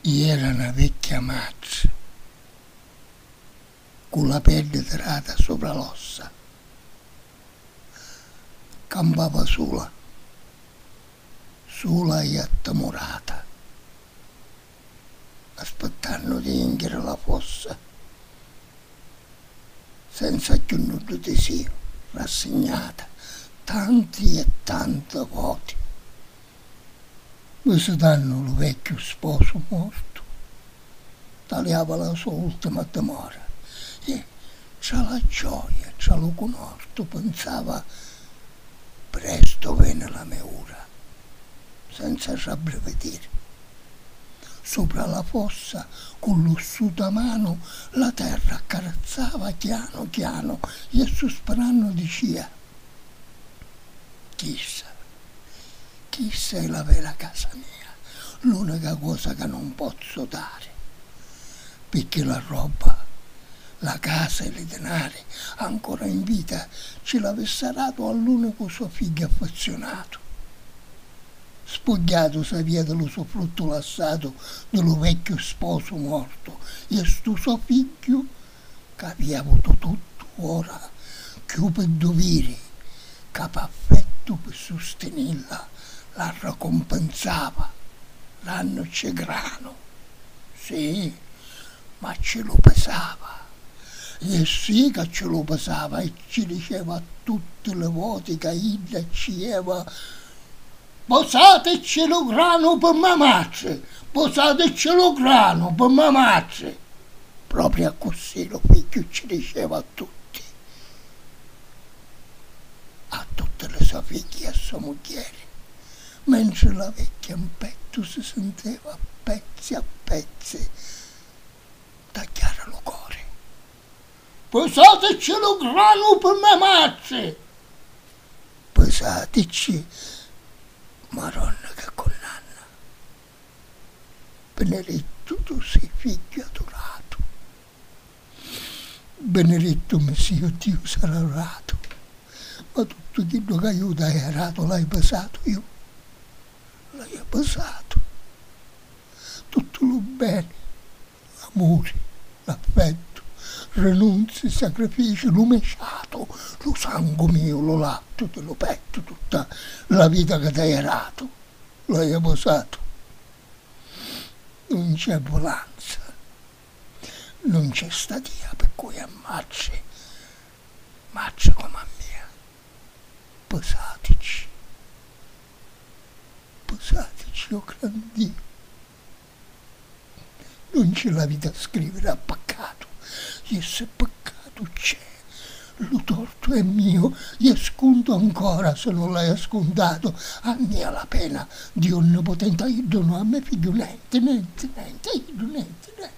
I era na vecchia matri, cu la peddi tirata supra l'ossa, campava sula, sula i attimurata, aspittannu di jinchiri la fossa, senza cchiù nuddu disìu, rassignata tanti e tanti voti. Visitannu lu vecchiu sposu mortu, taliava la so ultima dimora e, tra la gioia e tra lu cunortu, pinsava, Prestu veni la me ura, senza rabbrividiri. Supra la fossa, cu l'ossuta manu, la terra accarazzava chianu chianu e, suspirannu, dicia, Chissa Chissa è la vera casa mia, l'unica cosa ca nun pozzu dari, picchì la robba, la casa e li dinari ancora in vita ci l'avissa datu all'unicu so figghiu affezziunatu. Spugghiatu s'avia di lu so fruttu lassatu di lu vecchiu sposu mortu e stu so figghiu ca vi avutu tuttu ora cchiù pi duviri ca p'affettu pi sustinilla la ricumpinzava l'annu cci granu si ma cci lu pisava e si ca cci lu pisava e cci diceva tutti li voti ca idda cci ieva Puzzaticci lu granu pi ma matri, puzzaticci lu granu pi ma matri. Propriu accussì lu figghiu cci diceva a tutti, a tutti li so figghi e a so mugghieri, mentri la vecchia 'n pettu si sinteva a pezzi a pezzi tagghiari lu cori. Pusatecci lu granu pi me matri. Pusatecci Maronna che cunnanna. Benedettu tu si figghiu adoratu. Benedettu mi si iu Diu si adoratu. Ma tuttu chiddu ca iu t'haiu aratu l'haiu pisatu iu. L'haiu pisatu. Tuttu lu beni. L'amuri, l'affettu, rinunzi, sacrifici, lu me ciatu, lu sangu miu, lu lattu di lu pettu, tutta la vita ca t'aia datu, lu aia vosatu. Nun c'è vulanza, nun c'è statia pi cui ammacci, macci comu a mia, pusatici, pusatici, o gran Diu, Nun ci l'havi da scriviri a paccatu, je se paccatu c'è, lu tortu è mio, je scuntu ancora se nun l'haja scuntatu, a mia la pena di onnipotenti, a iddu no, a me figghiu nenti, nenti, nenti, a iddu nenti, nenti, nenti, nenti, nenti.